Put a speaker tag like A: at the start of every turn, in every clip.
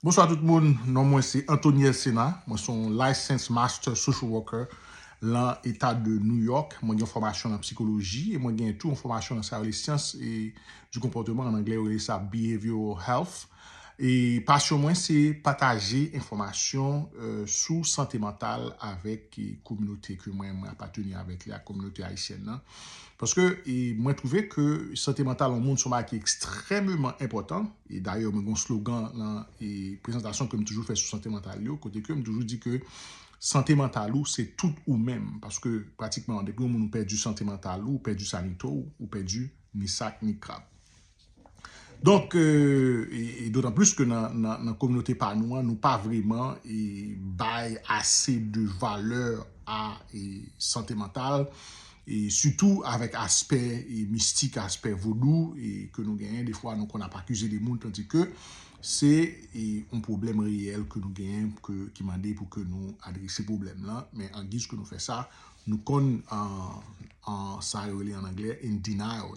A: Bonswa tout moun, non mwen se Anthony Elsena, mwen son Licensed Master Social Worker lan eta de New York, mwen gen yon fòmasyon lan psikoloji e mwen gen tou yon fòmasyon lan sa yo rele syans du konpòteman, an anglè yo rele sa Behavioral Health e pasyon mwen se pataje enfòmasyon sou sante mantal avèk kominote ke mwen apateni avèk li a, kominote ayisyèn nan. Paske mwen twouve ke sante mantal yon moun son bagay ki ekstrèmeman enpòtan, e dayè mwen gen yon slogan nan prezantasyon ke m toujou fè sou sante mantal yo, kote ke m toujou di ke sante mantal ou se tout ou menm, paske pratikman depi yon moun ou pèdi sante mantal ou, ou pèdi sa ni to, ou pèdi ni sak ni krab. Donk, e dotan plis ke nan kominote pa nou an, nou pa vreman bay ase de valè a sante mantal, e sitou avèk aspè mistik, aspè vodou ke nou genyen, defwa nou konn ap akize de moun tandi ke se yon pwoblèm reyèl ke nou genyen ki mande pou ke nou adrese pwoblèm lan, men an giz ke nou fè sa, nou konn an sa yo rele an anglè in denial.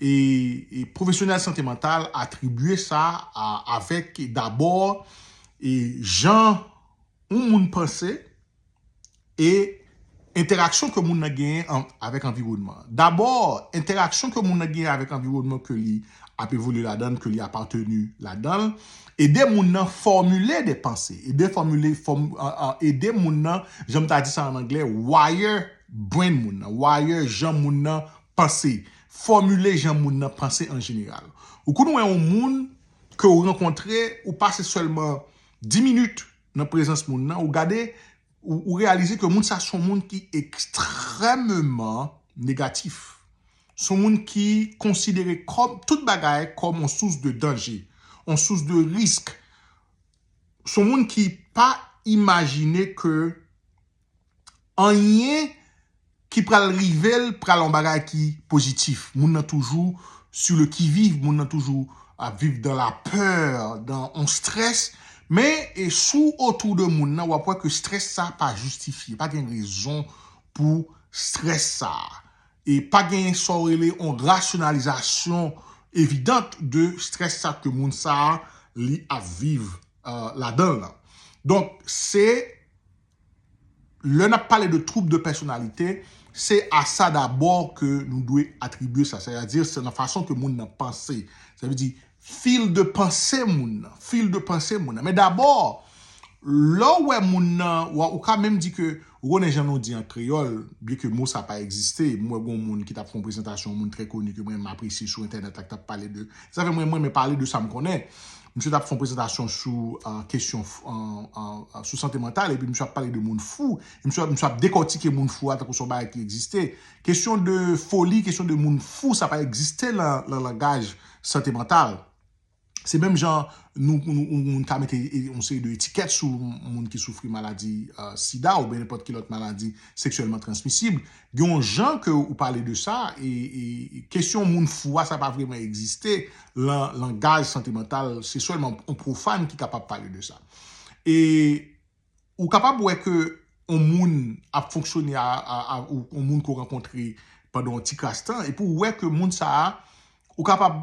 A: e pwofesyonèl sante mantal atribye sa a avèk dabò e jan yon moun panse e entèraksyon ke moun nan genyen avèk anviwònman. Dabò, entèraksyon ke moun nan genyen avèk anviwònman ke li ap evolye ladan l, ke li apateni ladan l, ede moun nan fòmile de panse, ede fòmile, ede moun nan, jan m ta di sa an anglè, wire brain moun nan, wire jan moun nan Panse, fòmile jan moun nan panse an jeneral. Ou konn wè yon moun ke ou rankontre, ou pase sèlman 10 minit nan prezans moun nan, ou gade, ou reyalize ke moun sa son moun ki ekstrèmeman negatif. Son moun ki konsidere kòm, tout bagay kòm yon sous de danje, yon sous de risk. Son moun ki pa imajine ke anyen ki pral rive l pral yon bagay ki pozitif. Moun nan toujou sou le ki viv, moun nan toujou ap viv dan la pè, dan yon strès. Men e si w otou de moun nan w ap wè ke strès sa a pa jistifye, pa gen rezon pou strès sa a. E pa gen sa w rele yon rasyonalizasyon evidant de strès sa ke moun sa a li ap viv ladan l lan. Donk se. lè n ap pale de twoub de pèsonalite, se a sa dabò ke nou dwe atribye sa, sètadi se nan fason ke moun nan panse, sa vle di fil de panse moun nan, fil de panse moun nan. Men dabò, lè w wè moun nan, ou ka menm di ke, ou konnen jan nou di an kreyòl, byen ke mo sa pa egziste, m wè gon moun ki t ap fè yon prezantasyon, yon moun trè koni ke mwen m apresye sou entènèt la ki t ap pale de, zafè mwen m renmen pale de sa m konnen. Misye tap fon prezantasyon sou kesyon sou sante mantal epi misye ap pale de moun fou. Misye ap dekòtike moun fou a tankou son bagay ki egziste. Kesyon de foli, kesyon de moun fou sa pa egziste lan langaj sante mantal. Se menm jan nou moun ka mete yon seri de etikèt sou moun ki soufri maladi sida oubyen nenpòt ki lòt maladi seksyèlman transmisib. Gen yon jan ke ou pale de sa e kesyon moun fou a sa pa vreman egziste lan langaj sante mantal se sèlman yon profane ki kapab pale de sa. E ou kapab wè ke yon moun ap fonksyone a yon moun ke w rankontre pandan yon ti kras tan epi ou wè ke moun sa a ou kapab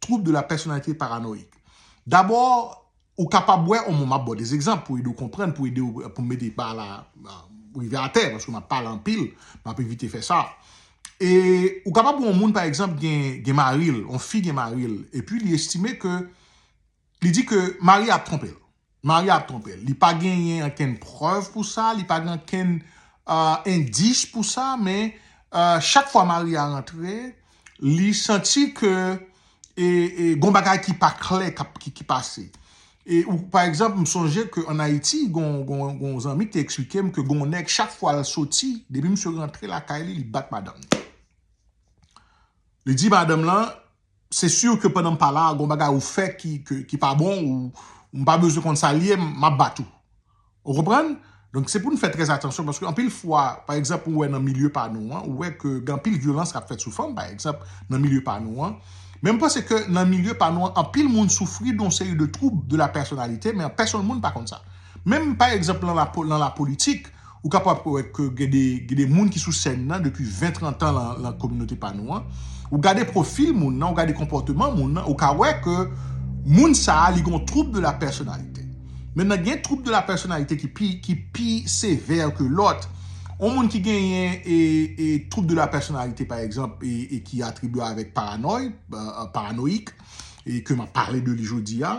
A: Trouble de la personnalité paranoïque. Dabò, ou kapab wè on moun, m ap ba w de egzanp pou ede w konprann, pou ede w, pou m mete pa la rive atè, paske m ap pale anpil, m ap evite fè sa. E, ou kapab wè on moun pa egzanp gen mari l, on fi gen mari l, epi li estime ke, li di ke mari a ap twonpe l. Maria ap twonpe l. Li pa genyen ankenn prèv pou sa, li pa gen ankenn endis pou sa, men chak fwa Maria rantre, li santi ke gon bagay ki pa klè ki pase. Pa egzanp, m sonje ke an Ayiti, gon zanmi ki te eksplike m ke gon nèg chak fwa l soti, depi misye rantre lakay li, li bat madanm li. Li di madanm lan, Se sûr ke pandan m pa la a gon bagay ou fè ki pa bon ou m pa bezwen konn sa l ye m ap bat ou. Ou konprann? Donk se pou n fè trè atansyon paske anpil fwa pa egzanp ou wè nan milye pa nou an ou wè ke gen anpil vyolans k ap fèt sou fanm pa egzanp nan milye pa nou an men m panse ke nan milye pa nou an anpil moun soufri don seri de twoub de la pèsonalite men pèsonn moun pa konn sa. Menm pa egzanp nan lapolitik Ou kapab pou wè ke gen de gen de moun ki sou sèn nan depi 20, 30 tan lan lan kominote pa nou an. Ou gade pwofil moun nan, ou gade konpòteman moun nan, ou ka wè ke moun sa a li gen yon twoub de la pèsonalite. Mentnan gen twoub de la pèsonalite ki pi ki pi sevè ke lòt. Yon moun ki genyen e e twoub de la pèsonalite pa egzanp e e ki atribye avèk paranòy, paranoïque, e ke m ap pale de li jodi a,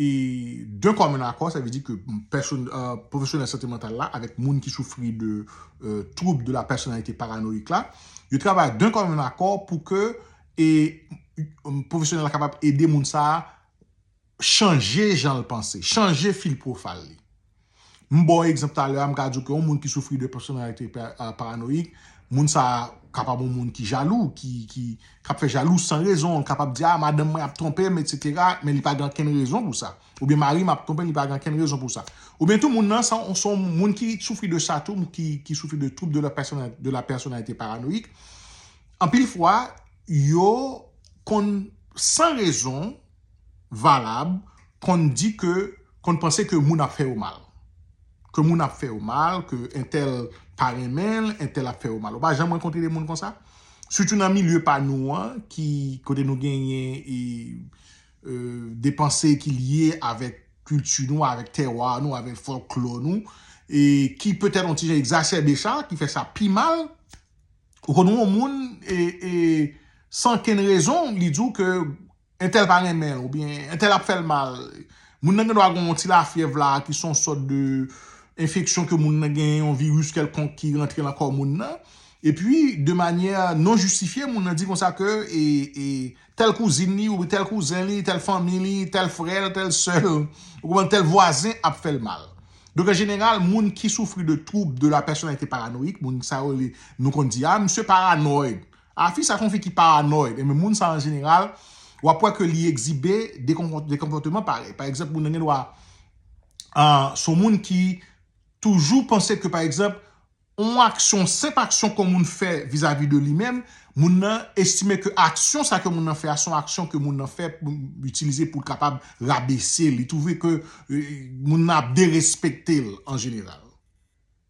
A: E d'un commun accord, sa vle di ke pwofesyonèl sante mantal la avèk moun ki soufri de twoub de la pèsonalite paranoyik la, yo travay d'un commun accord pou ke pwofesyonèl la kapab ede moun sa a chanje jan l panse, chanje fil pwofayl li. M ba w egzanp talè a, m ka di w ke yon moun ki soufri de pèsonalite paranoyik, moun sa a kapab yon moun ki jalou, ki ap fè jalou san rezon, li kapab di a madanm mwen ap twonpe m etsetera, men li pa gen ankenn rezon pou sa. Oubyen mari m ap twonpe m li pa gen ankenn rezon pou sa. Oubyen tou moun nan se yon moun ki soufri de sa tou, ki soufri de twoub de la pèsonalite paranoyik, anpil fwa yo konn san rezon valab konn di ke konn panse ke moun ap fè yo mal ke moun ap fè yo mal ke entèl pa renmen l entèl ap fè yo mal ou pa janm rankontre de moun konsa sitou nan milye pa nou an ki kote nou genyen e de panse ki lye avèk kilti nou avèk tèwa nou avèk fòlklò nou e ki petèt yon ti jan egzasèbe sa ki fè sa pi mal ou konn wè yon moun e e san kenn rezon li di w ke Entèl pa renmen l oubyen entèl ap fè l mal. Moun nan gendwa gen yon ti lafyèv la ki se yon sòt de enfeksyon ke moun nan genyen, yon viris kèlkonk ki rantre lan kò moun nan. Epi de manyè non jistifye moun nan di konsa ke tèl kouzin li oubyen tèl kouzen li, tèl fanmi li, tèl frè l, tèl sè l, ou konprann, tèl vwazen ap fè l mal. Donk an jeneral moun ki soufri de twoub de la pèsonalite paranoyik, moun sa yo nou konn di a misye paranoid, A fi sa son fi ki paranoid enben moun sa an jeneral wap wè ke li egzibe de konpòteman parèy pa egzanp moun nan gen dwa son moun ki toujou panse ke pa egzanp on aksyon senp aksyon kon moun fè vizavi de li menm moun nan estime ke aksyon sa ke moun nan fè a son aksyon ke moun nan fè pou itilize pou kapab rabese li twouve ke moun nan ap derespekte l an jeneral.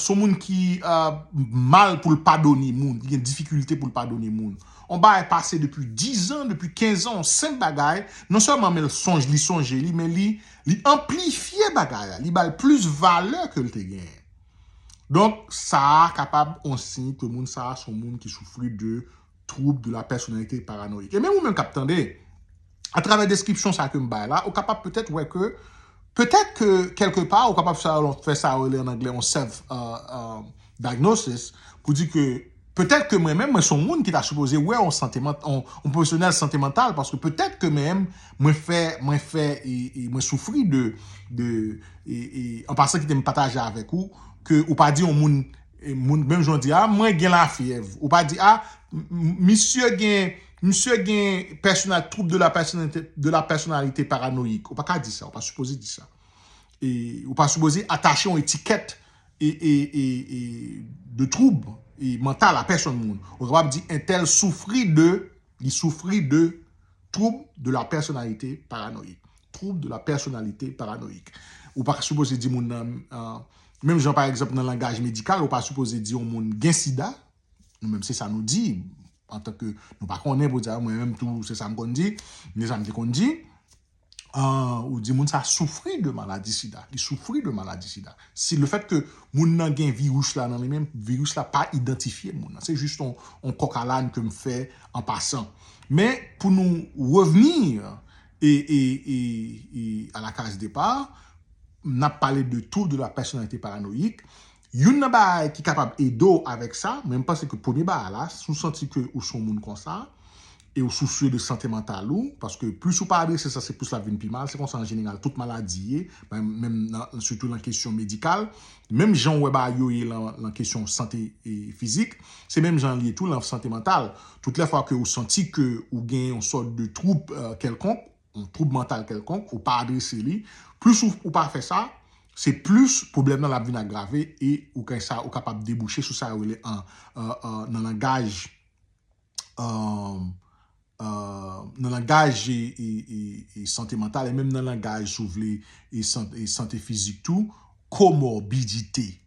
A: son moun ki mal pou l padone moun, ki gen difikilte pou l padone moun. On bagay pase depi 10 an, depi 15 an, on senp bagay, non sèlman men l sonj, li sonje li, men li anplifye bagay la, li ba l plis valè ke l te genyen. Donk, sa a kapab on siy ke moun sa a son moun ki soufri de. Twoub de la pèsonalite paranoyik. E menm ou menm kap tande, a travè deskripsyon sa kem bay la, ou kapab petèt wè ke, petèt ke kèlke pa ou kapab fè sa yo rele an anglè yon self diagnosis pou di ke petèt ke mwen menm mwen son moun ki ta sipoze wè yon sante mantal, yon pwofesyonèl sante mantal paske petèt ke menm mwen fè, mwen fè e mwen soufri de, de e an pasan kitem pataje avèk ou ke ou pa di yon moun Moun menm jan w di a mwen gen lafyèv ou pa di a misye gen misye gen pèsonal twoub de la pèsonalite de la pèsonalite paranoyik ou pa ka di sa ou pa sipoze di sa e ou pa sipoze atache yon etikèt e e e e de twoub e mantal a pèsonn moun ou kapab di entèl soufri de Li soufri de Twoub de la pèsonalite paranoyik. Twoub de la pèsonalite paranoyik. Ou pa sipoze di moun nan, menm jan pa egzanp nan langaj medikal, ou pa sipoze di yon moun gen sida, nou menm se sa nou di, antanke nou pa konnen pou di sa, mwen menm tou se sa m konn di, men sa m te konn di. ou di moun sa soufri de maladi sida, li soufri de maladi sida. Si le fèt ke moun nan gen viris la nan li menm, viris la pa idantifye moun nan. Se jis yon kòk a lane ke m fè an pasan. Men pou nou revni a la case départ, n ap pale de trouble de la personnalité paranoïque, Youn nan bagay ki kapab ede w avèk sa, men m panse ke premye bagay la, si w santi ke ou se yon moun konsa, e ou sousye de sante mantal ou, paske plis ou pa adrese sa, se plis l ap vin pi mal, se konsa an jeneral tout maladi ye, menm nan, sitou nan kesyon medikal, menm jan ou wè bagay yo ye nan kesyon sante fizik, se menm jan l ye tou nan sante mantal. Tout lè fwa ke ou santi ke ou gen yon sòt de twoub kèlkonk, yon twoub mantal kèlkonk, ou pa adrese li, plis ou pa fè sa, se plis pwoblèm nan l ap vin agrave e ou kay sa ou kapab debouche sou sa yo rele an nan langaj nan langaj sante mantal e menm nan langaj si w vle sante fizik tou komorbidite.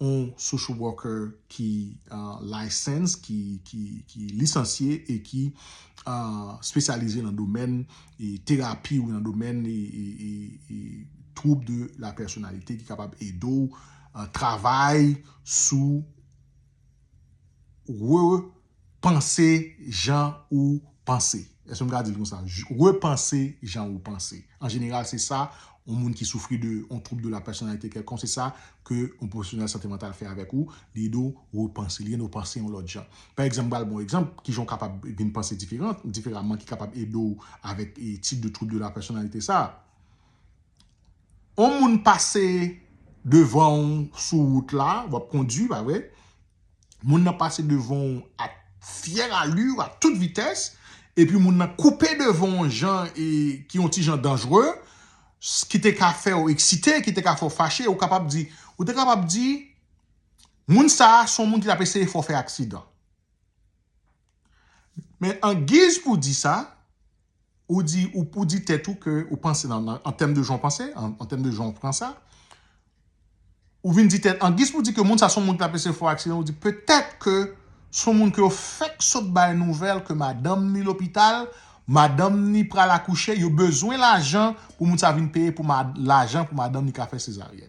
A: on social worker ki licensed, ki lisansye e ki spesyalize nan domèn terapi ou nan domèn trouble de la personnalité ki kapab ede w travay sou re Panse jan ou panse. Èske m ka di l konsa? Repanse jan ou panse. An jeneral, se sa yon moun ki soufri de yon twoub de la pèsonalite kèlkonk, se sa ke yon pwofesyonèl sante mantal fè avèk ou, li ede w repanse, li ede w panse yon lòt jan. Pa egzanp, m pral ba w yon egzanp, ki jan w kapab vin panse diferan, diferaman, ki kapab ede w avèk tip de twoub de la pèsonalite sa a. Yon moun pase devan ou sou wout la, w ap kondui, pa vre? moun nan pase devan w a fière allure, a tout vitès, epi moun nan koupe devan w jan e ki yon ti jan danjre, s ki te ka fè w eksite, ki te ka fè w fache, ou kapab di, ou te kapab di, moun sa a s on moun ki t ap eseye fè w fè aksidan. Men an giz pou di sa, Ou di, ou di tèt ou ke ou panse nan, an tèm de jan ou panse, an tèm de jan ou pran sa, ou vin di tèt, an giz pou w di ke moun sa se yon moun ki ta pèse fo aksidan, ou di petèt ke se yon moun ke yo fèk sot bay nouvèl ke madanm ni lopital, madanm ni pral akouche, yo bezwen lajan pou moun sa vin peye pou lajan pou madanm ni ka fè sezaryèn.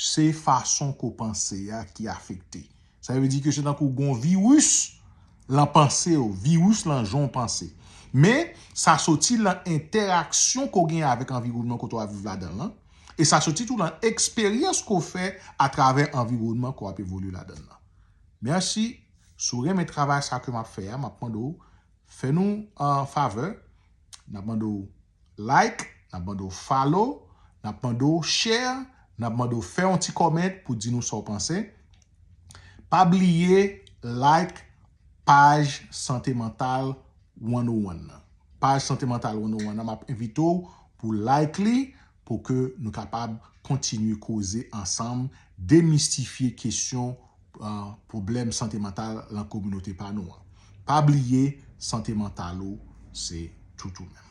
A: Se fason ke w panse a ki afekte. Sa vle di ke se tankou gen yon viris lan panse w, viris lan jan w panse. Men, sa soti lan entèraksyon ke w gen avèk anviwònman kote w ap viv ladan l lan, e sa soti tou lan eksperyans ke w fè atravè anviwònman ke w ap evolye ladan l lan. Mèsi. Si w renmen travay sa ke m ap fè a, m ap mande w fè nou yon favè. N ap mande w. like, nap mande w follow, nap mande w share, nap mande w fè yon ti comment pou di nou sa w panse. Pa bliye like paj Sante Mantal 101 nan. Paj Sante Mantal 101 nan map envite w pou like li pou ke nou kapab kontinye koze ansanm, demistifye kesyon. pwoblèm sante mantal lan kominote pa nou an. Pa bliye sante mantal ou se tout ou menm.